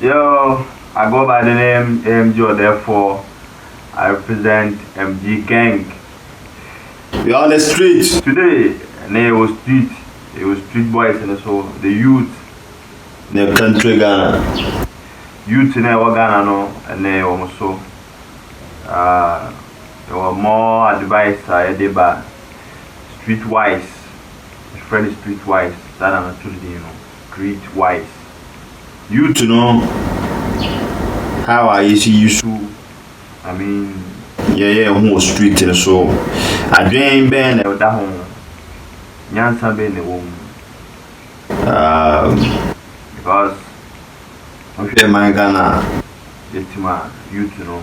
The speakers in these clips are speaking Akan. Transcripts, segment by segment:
Yo, I go by the name AMG Odefoɔ, I represent MG gang. We are on the street. Today na yɛwɔ street, yɛwɔ street boys no so, the youth. Ne country Ghana. Youth no a ɛwɔ Ghana no ɛnɛ yɛwɔ mo so. Yɛwɔ more advice a yɛde ba street wise. Yɛfrɛ no Street Wise, saa na na too din no, Street Wise. Youth no, how a yɛsi yi su, I mean, yɛyɛ yɛn ho wɔ street no so, adwen bɛn na ɛda ho, nyansa bɛn na ɛwɔ mu. Um, because, wohwɛ man Ghana a, yɛtim a, youth no,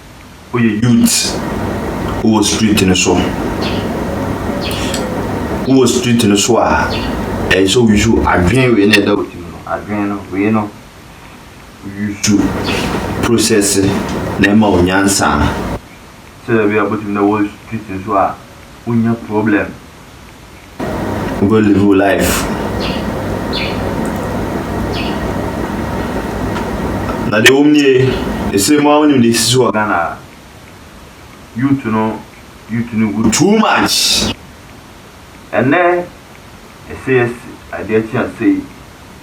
Woyɛ youth wowɔ street no so. Wowɔ street no so a, ɛyɛ sɛ woyusu adwene wei na ɛda wo tirim no. Adwene no, wei no, woyusu process na ɛma wo nyansa. Sɛdeɛ ɛbɛyɛ a wobɛtumi na wɔ street no so a, wonnya problem. Go live wo life. Na deɛ wɔm nie, ɛsɛ mu a wonim deɛ ɛsisi wɔ Ghana a. Youth no, youth no gu too much. Ɛnɛ, ɛsɛ yɛsi adeɛ kye a sei.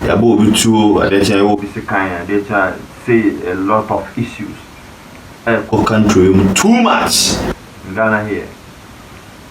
Yɛabɔ obi tuo, adeɛ kye a yɛwɔ obi sekan, adeɛ kye a sei, a lot of issues ɛrekɔ country yi mu too much in Ghana here.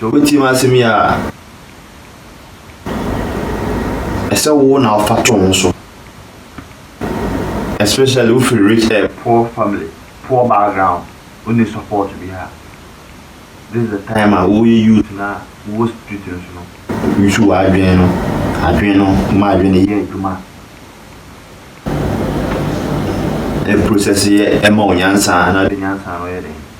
Sɛ wobɛtie m'asɛm yi a, ɛsɛ wo na wofa to ho so. Especially wofiri rich eh, poor family, poor background, wonni support bi a, this is the time a woyɛ youth na wowɔ street no so no, use w'adwene no, adwene no, ma adwene no yɛ adwuma. Ɛprocess yɛ ɛma wo nyansa na wode nyansa no yɛ dɛn?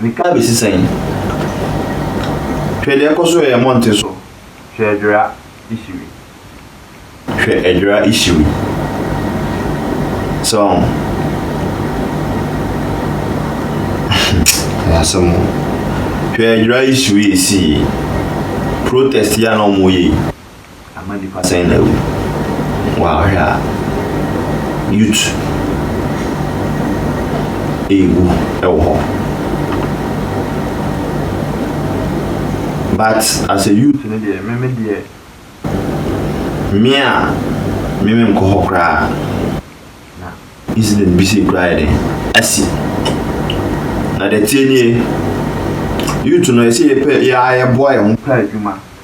Nka besi sɛn? Hwɛ deɛ ɛkɔ so ɛyɛ monte so. Hwɛ adwera isiri. Hwɛ adwera isiri. Sɛ ɔho. Ɛyɛ asɛm o. Hwɛ adwera isiri esii. Protest yi a na ɔmo yɛ yi. Ama nipa sɛn na awu. Wow wohwɛ a youth ɛɛwu ɛwɔ hɔ but as a youth no deɛ me me deɛ me a me me nkɔ hɔ koraa na incident bi sei koraa yɛ den asi na deɛ tie nie youth no ɛsɛ yɛpɛ yɛa yɛboa yɛn ho pɛ adwuma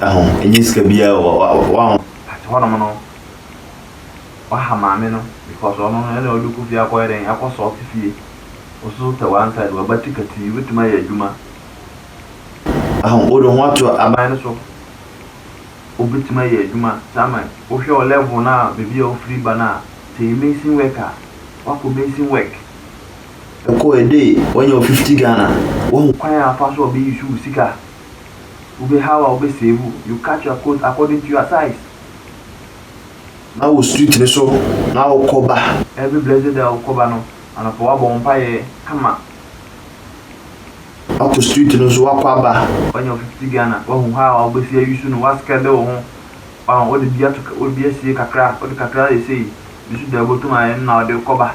Ɛho ɛnyɛ sika biaa o wa wa wa ho. Ate hɔ nom no waha maame no because ɔno no ɛna ɔde kɔ fie akɔyɛ dɛn akɔ sɔɔte fie wo so tɛ one side waba ti katii wobɛtumi ayɛ adwuma waho wode ho ato aban no so wobɛtumi ayɛ adwuma saa ma wohwɛ wo level no a baabi a wofiri ba no a sɛ yɛ mason work a wakɔ mason work ɛkɔ a day wanya wo 50 Ghana waho kwan a afa so a ɔbɛ use wo sika. Wo be how a wo be save wo, you cut your coat according to your size. Na wo street no so na wo kɔ ba. Every blessed day a wo kɔ ba no, anɔpa wa bɔ wo mpaeɛ kama. Wa kɔ street no so wa kɔ aba. Wa nya wo fifty Ghana, wa hu how a wo be si ayi su no, wa skrɛde wo ho, wa wo de bi ato, wo de bi asie kakra, wo de kakra ayɛ sei, bi so da obotum ayɛ no na wo de kɔ ba.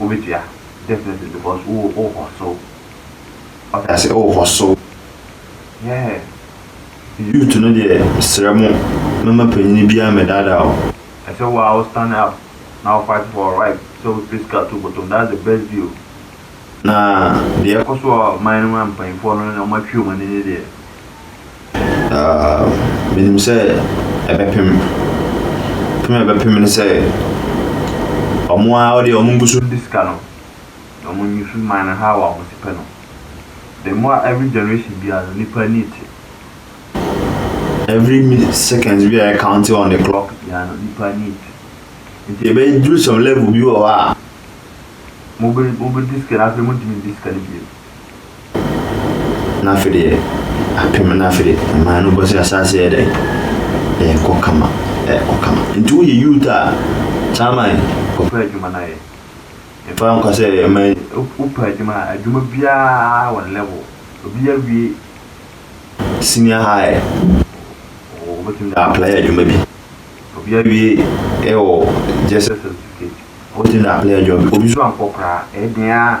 wobetua definitely because wo wo kɔ so wate ase wo kɔ so yeah youth no deɛ srɛ mo mɛma panyin biara mɛ daadaa o ɛsɛ wo a wo stand up na wo fight for right sɛ wo pɛ sika to bɔtɔm that's the best deal na deɛ ɛkɔ so wɔ man no mu a mpanyinfoɔ no wɔn atwi wɔn ani ne deɛ. Na menim sɛ ɛbɛpem. Pem a ɛbɛpem ne sɛ, ɔmo ara ɔdeɛ ɔmo ngu so ndi sika no, na ɔmo nyi so man no how a ɔmo te pɛ no. The more a every generation biara no nnipa ani te. Every min seconds bi a yɛ counting on the clock biara no nnipa ani te. Nti ɛbɛduru some level bi wɔ hɔ a, mobe mobedi sika na afei montumi ndi sika no bio. Na afei deɛ apem na afei deɛ ɛmaa no bɔ sɛ asaase yɛ dɛn ɛrekɔ kama ɛrekɔ kama nti woyɛ youth a chairman kɔpɛ adwuma no ayɛ mfa nkɔ sɛ ɛma wopɛ adwuma a adwuma biara wɔ ne level obi awie senior high wobɛtumi de apply adwuma bi obi awie ɛwɔ gyesɛ certificate wobɛtumi de apply adwuma bi obi nso ankɔ koraa ɛyɛ den ara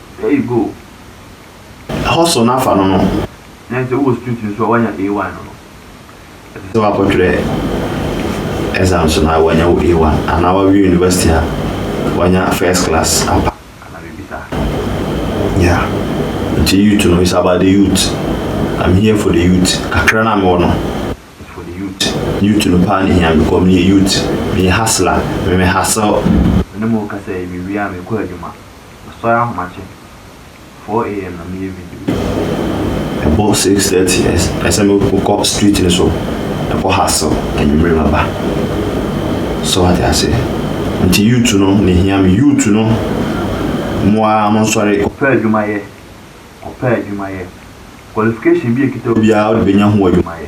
There you go. Ɛhɔ so na fa no no. Na ɛnsɛ wowɔ street nso a woanya A1 no no. Ɛsɛ sɛ woakɔtwerɛ exams no a woanya wo A1 anaa woawie university a woanya first class ampa anaa biribi saa. Yeah. Nti youth no it's about the youth. I'm here for the youth. Kakra no a mewɔ no it's for the youth. Youth no paa na ɛhia me because meyɛ youth. Meyɛ hustler. Me me hustle. Me ne mo rekasa yi mewie a mekɔ adwuma. Ɔsɔre ahomakye, 4am na meyɛ video. Ɛbɔ 6:30 a ɛsɛ mekɔ street no so ɛkɔ hustle anwumerɛ maba. So wate ase? Nti youth no na ɛhia me. Youth no mo ara mo nsɔre. Kɔpɛ adwuma yɛ, kɔpɛ adwuma yɛ. Qualification bi a ɛkita wo biara wode bɛnya ho adwuma yɛ.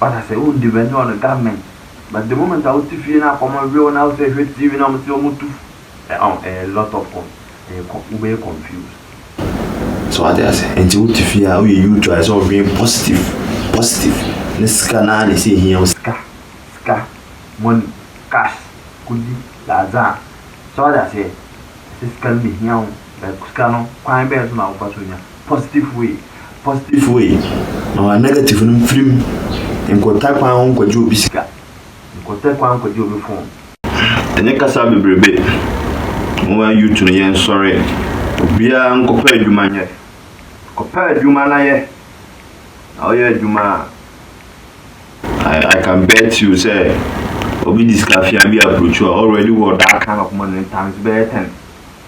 Ɔda sɛ wo ndi bɛnye ɔno government but the moment a wote fie na akɔmɔ we wo na wo sɛ ehwɛ TV na ɔmo se ɔmo tu f ɛ ɔn ɛyɛ a lot of com ɛyɛ kɔ wo bɛyɛ confused. So wate ase nti wote fie a woyɛ youth a ɛsɛ ɔdwen positive positive ne sika naa na ɛsɛ ehia wo sika sika money cash kudi lazaa so wate aseɛ ɛsɛ sika no na ehia wo. Na sika no kwan bɛn so na wofa so nya? Positive way. Positive way, ma negative no mfiri mu. Nkɔtɛ kwan ho nkɔgye obi sika. Nkɔtɛ kwan nkɔgye obi phone. Ɛnyɛ kasa bebrebe. Moa youth no yɛn sɔre. Obiara nkɔpɛ adwuma nyɛ. Kɔpɛ adwuma na yɛ. Na wo yɛ adwuma a, I can bet you sɛ obi de sika fia bi approach wo a, already wɔ that kind of money no times bɛyɛ ten.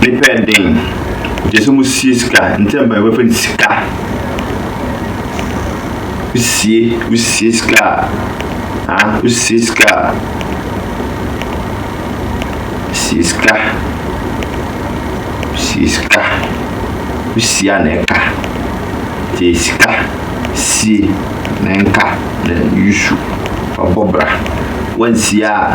Ne pɛ yɛ den. Ɔkyerɛ sɛ mosie sika. Ntɛm paa wɔbɛfa no sika. Wosie, wosie sika a, ah, wosie sika a, sie sika, sie sika, wosie a na ɛka. Tie sika, sie na ɛnka na yusu, ɔbɔ bra. Wansie a,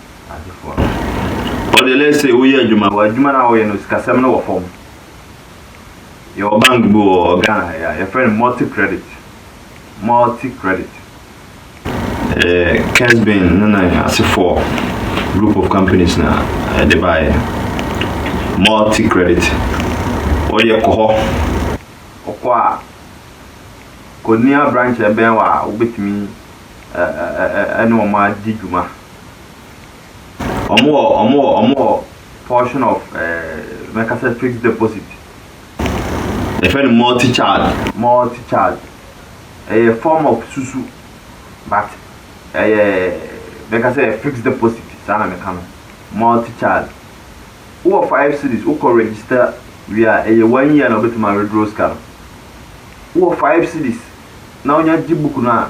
adefoɔ no. Ɔde let's say woyɛ adwuma wɔ adwuma no a wɔyɛ no sikasɛm no wɔ fam yɛwɔ bank bi wɔ Ghana ha yɛ yɛfrɛ no multi credit multi credit eh, Kesbin no na asefoɔ group of companies na ɛde eh, baeɛ multi credit woyɛ kɔ hɔ wokɔ a kɔnia branch ɛbɛn wɔ a wobɛtumi ɛne wɔn adi dwuma Ɔmo wɔ ɔmo wɔ ɔmo wɔ portion of ɛɛ mɛka sɛ fixed deposit. Yɛfrɛ no multi charge. Multi charge. Ɛyɛ form of susu but ɛyɛ mɛka sɛ ɛyɛ fixed deposit saa na mɛka no. Multi charge. Wowɔ five cedis wokɔ register wie a ɛyɛ one year na wobɛtumi a withdraw sika no. Wowɔ five cedis na wonya gye book no a.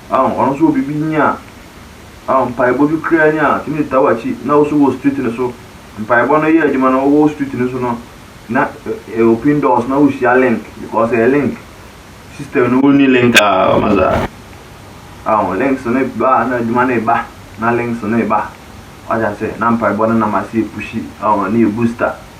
Aw ɔno so wɔ biribi nyi a aw mpaebɔ bi koraa nyi a otumi de taa w'akyi na wo so wɔ street no so mpaebɔ no yɛ adwuma no wɔ street no so no na ɛ open doors na wohyia link because ɛyɛ link system no wonni link a ɔma saa aw links no ba a na adwuma no ba na links no ba wagya sɛ na mpaebɔ no nam ase yɛ pushi aw ne yɛ booster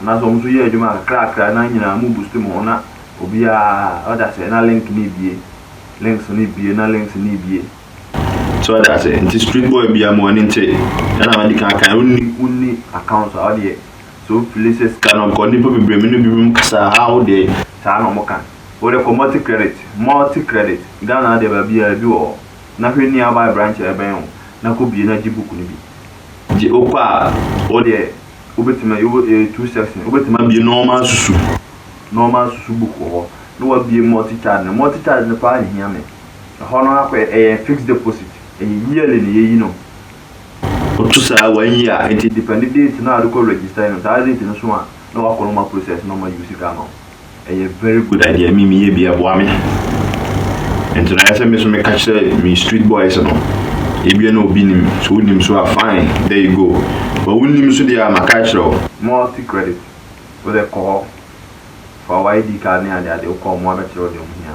Anaasɛ ɔmo so yɛ adwuma kakrakra na nyina ɔmo boost mo ho na obiaa ɔda aseɛ na link no ebue, links no ebue na links no ebue. So ɔda aseɛ? Nti street boy biaa ma w'ani nkye sɛdeɛ madi kan akaeɛ no wonni account a ɔdeɛ sɛ wofili sɛ sika no ɔkɔ nnipa bebree me ne binom kasaa haa wodeɛ saa na ɔmo ka wode kɔ multi credit multi credit Ghana ha deɛ baabiaa ebi wɔ hɔ na hwɛ nearby branch a ɛbɛn wo na kɔ bue na gye book no bi gye wokɔ a wodeɛ. wobɛtumi ayɛ wɔ ɛyɛ two section wobɛtumi abie normal susu normal susu book wɔ hɔ na wabie multi charge no multi charge no paa nhia me ɛhɔ no akɔ ɛyɛ fixed deposit ɛyɛ yearly na yɛyi no woto saa one year nti depend date no a wode kɔ register no saa date no so a na wakɔ no ma process no ma use sika ama wo. ɛyɛ very good idea me meyɛ bi ɛboa me nti na ɛsɛ me so meka kyerɛ me street boys no ebia na obi nim so wonim so a fine there you go but wonim so deɛ a maka kyerɛ wo multi credit wode kɔ hɔ fa w'id card ne adeade wokɔ ɔmo abɛkyerɛ wo deɛ ɔmo hia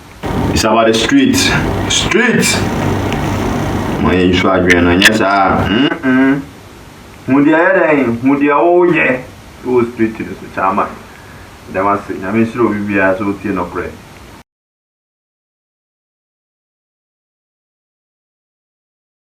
It's about the street street ma yɛn nsu adwene no nyɛ saa hu deɛ yɛ dɛn hu deɛ woyɛ wɔ street no so kyama dɛm ase nyame nhyira obi biara sɛ wotie nɔkorɛ